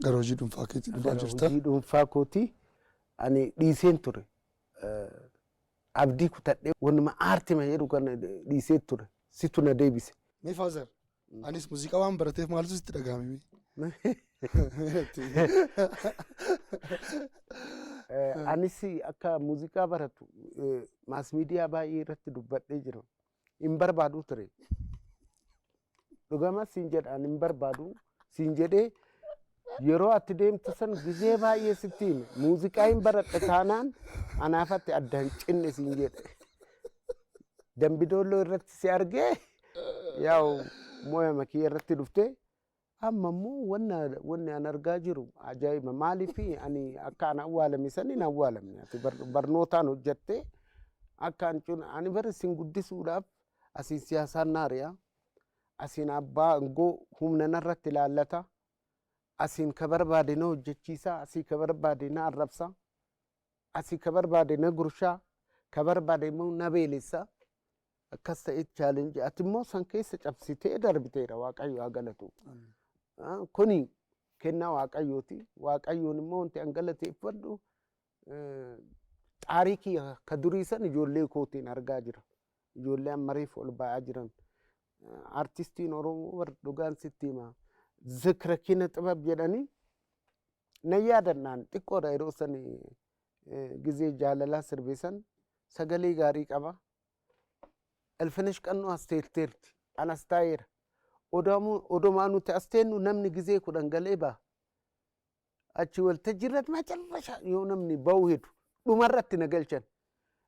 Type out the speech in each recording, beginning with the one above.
Gara hojii dhuunfaa keetii dhufaa Gara jirta. hojii dhuunfaa kootii ani dhiiseen ture. Eh, Abdii kutadhee wanuma aartima jedhu kana dhiisee ture. Situ na deebise. Mee faazar anis muuziqaa waan barateef maaltu sitti dhagahame? Eh, Anis akka muuziqaa baratu eh, maas miidiyaa baay'ee irratti dubbadhee jira. hin barbaadu ture. Dhugama siin jedhaan hin barbaadu siin jedhee yeroo atti deemtu san gizee baay'ee sitti hime. Muuziqaa hin baradhe taanaan anaafatti adda hin cinne siin jedhe. Dambidoolloo irratti si argee yaa'u mooyama kiyya irratti dhuftee Amma immoo wanna wanni an argaa jiru ajaa'iba maaliif ani akka an awwaalame san hin awwaalamne ati bar- barnootaan hojjattee akka an cun ani bar isin guddisuudhaaf asiin siyaasaan naari'a asiin abbaa aangoo humna narratti ilaallata asiin ka barbaade na hojjechiisa asii ka barbaade na arrabsa asii ka barbaade na gurshaa ka barbaade immoo na beelessa akkas ta'e challenge ati immoo san keessa cabsitee darbiteera waaqayyo haa galatu. Ah, Kuni kennaa waaqayyooti. Waaqayyoon immoo wanti an galateeffadhu eh, xaarii kiyya ka durii san ijoollee kootiin argaa jira. Ijoollee amma reef ol ba'aa jiran. Eh, Artistiin Oromoo bar dhugaan sitti hima. Zikra kina xibab jedhanii na yaadannaan xiqqoodha yeroo sani eh, gizee jaalalaa sirbisan sagalee gaarii qaba. Ilfinesh Qannoo as teetteerti. An as taa'eera. Odaamu- Odomaa nuti as teennu namni gizee kudhan galee ba'a. Achi waltajjii irratti macarrasha yoo namni ba'uu hedu dhumarratti na galchan.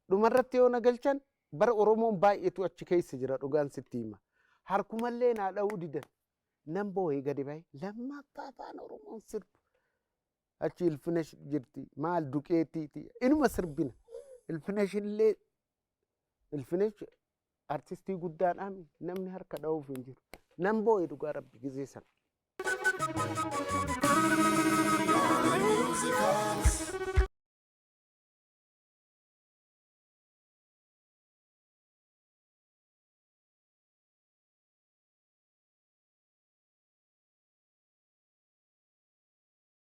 Dhumarratti yoo na galchan bara Oromoon baay'eetu achi keessa jira dhugaan sitti hima. Harkumallee naa dha'uu didan. Nan boo'ee gadi ba'e. Lammaffaa afaan Oromoon sirbu. achi ilfinash jirti maal duqeetiiti inuma sirbina ilfinash illee ilfinash artistii guddaadhaan namni harka dha'uuf hin jiru nan boo'e dhugaa rabbi gizee sana.